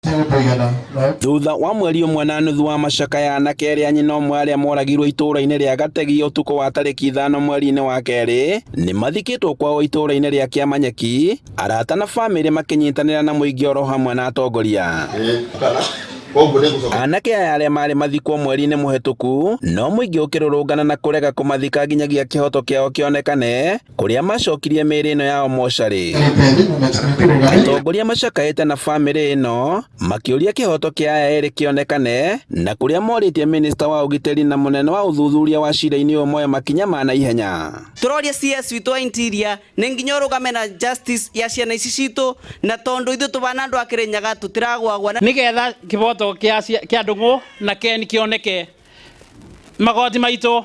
ti ũndũ ũigana no Thutha wa mweri ũmwe na nuthu wa macakaya, anake erĩ a nyina ũmwe arĩa moragirwo itũũra-inĩ rĩa Gategi ũtukũ wa tarĩki ithano mweri-inĩ wa kerĩ, nĩ mathikĩtwo kwao itũũra-inĩ rĩa Kĩamanyeki, arata na famĩlĩ makĩnyitanĩra na mũingĩ oro hamwe na atongoria. Anake aya arĩa maarĩ mathikwo mweri-inĩ mũhetũku, no mũingĩ ũkĩrũrũngana na kũrega kũmathika nginyagia kĩhoto kĩao kĩonekane, kũrĩa macokirie mĩĩrĩ ĩno yao mocarĩ. Atongoria macakaĩte na bamĩrĩ ĩno makĩũria kĩhoto kĩa aya erĩ kĩonekane na kũrĩa morĩtie mĩnĩsta wa ũgitĩri na mũnene wa ũthuthuria wa cira-inĩ ũyũ moe makinya ma naihenya. Tũroria CS witũ wa interior nĩ nginya ũrũgame na justice ya ciana ici citũ na tondũ ithuĩ tũbana andũ a Kĩrĩnyaga tũtiragwagwa. Nĩgetha kĩboto kĩa Ndung'u na Ken kĩoneke magoti maitũ.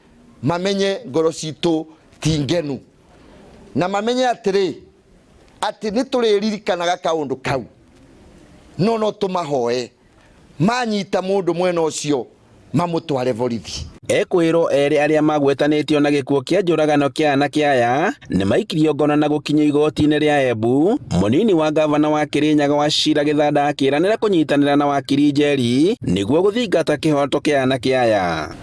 mamenye ngoro citũ ti ngenu na mamenye atĩrĩ atĩ nĩ tũrĩririkanaga kaũndũ kau no no tũmahoe manyita mũndũ mwena ũcio mamũtware borithi. Ekwĩrwo erĩ arĩa magwetanĩtio na gĩkuũ kĩa njũragano kĩa anake aya nĩ maikirio ngono na gũkinyio igoti-inĩ rĩa Embu. Mũnini wa ngavana wa Kĩrĩnyaga wa Cira Gĩthanda akĩranĩra kũnyitanĩra na wakiri Njeri nĩguo gũthingata kĩhoto kĩa anake aya.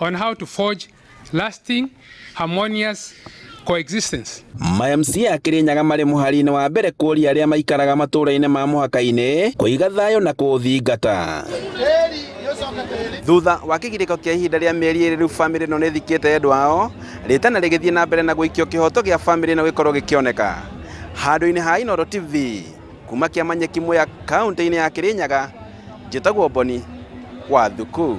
on how to forge lasting harmonious coexistence. Maya MC a Kĩrĩnyaga marĩ mũhari-inĩ wa mbere kũria arĩa maikaraga matũũra-inĩ ma mũhaka-inĩ kũiga thayũ na kũũthingata. Thutha wa kĩgirĩko kĩa ihinda rĩa mĩeri ĩrĩ rĩu bamĩrĩ ĩno nĩthikĩte endwa ao rĩtana rĩgĩthiĩ na mbere na gũikio kĩhoto gĩa bamĩrĩ ĩno gĩkorwo gĩkĩoneka handũ-inĩ ha Inooro TV kuma kĩama nyeki mwĩya kaunti-inĩ ya Kĩrĩnyaga njĩtagwo Boni Wathuku.